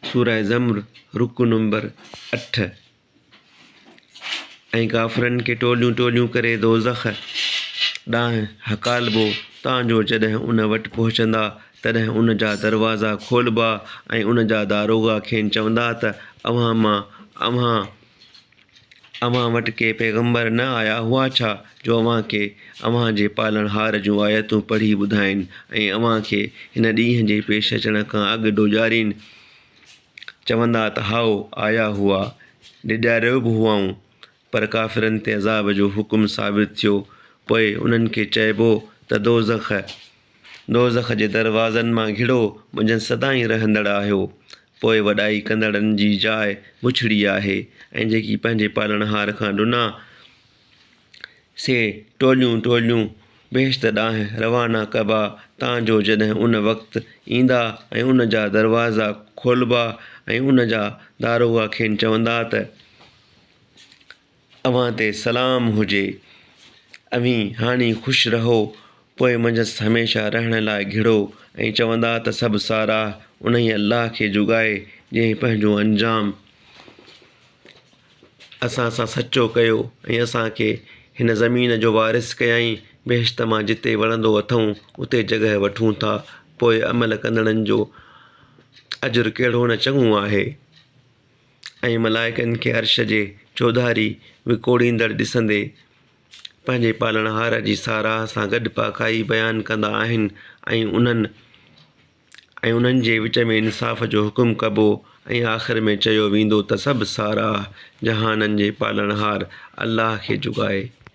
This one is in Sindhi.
سوره زمر رڪوع نمبر اٺ ۽ ڪافرن کي ٽوليون ٽوليون ڪري دوزخ ڏانهن هڪالبو تان جو جڏهن ان وٽ پهچندا تڏهن ان جا دروازا کولبا ۽ ان جا داروغا کين چوندا ته اوهان مان اوهان اوهان وٽ ڪي پيغمبر نه آيا هئا ڇا جو اوهان کي اوهان جي پالڻهار جون آيتون پڙهي ٻڌائين ۽ اوهان کي هن ڏينهن جي پيش اچڻ کان اڳ ڊوڄارين؟ چوندا ته هائو، آيا هئا، ڊيڄاريو به هئائون، پر ڪافرن تي عذاب جو حڪم صادر ٿيو، پوء انهن کي چئبو ته دوزخ، دوزخ جي دروازن مان گهڙو منجهن سدائين رهندڙ آهيو، پوء وڏائي ڪندڙن جي جاء بڇڙي آهي ۽ جيڪي پنهنجي پالڻهار کان ڏنا، سي ٽوليون ٽوليون بهشت ڏانهن روانا ڪبا، تان جو جڏهن ان وقت ايندا ۽ ان جا دروازا کولبا ۽ ان جا داروغا کين چوندا ته. اوهان تي سلام هجي. اوهين هاڻي خوش رهو، پوء منجهس هميشه رهڻ لاء گهڙو ۽ چوندا ته سڀ ساراهه انهيء الله کي جو ڳائي، جنهن پنهنجو انجام اسان سان سچو ڪيو ۽ اسان کي هن زمين جو وارث ڪيائين، بهشت مان جتي وڻندو اٿئون، اتي جڳهه وٺون ٿا، پوء عمل ڪندڙن جو اجر ڪهڙو نه چڱو آهي. ۽ ملائڪن کي عرش جي چوڌاري وڪوڙيندڙ ڏسندي پنهنجي پالڻهار جي ساراهه سان گڏ پاڪائي بيان ڪندا آهن ۽ انهن ۽ انهن جي وچ ۾ انصاف جو حڪم ڪبو ۽ آخر ۾ چيو ويندو ته سڀ ساراهه جهانن جي پالڻهار الله کي جوڳائي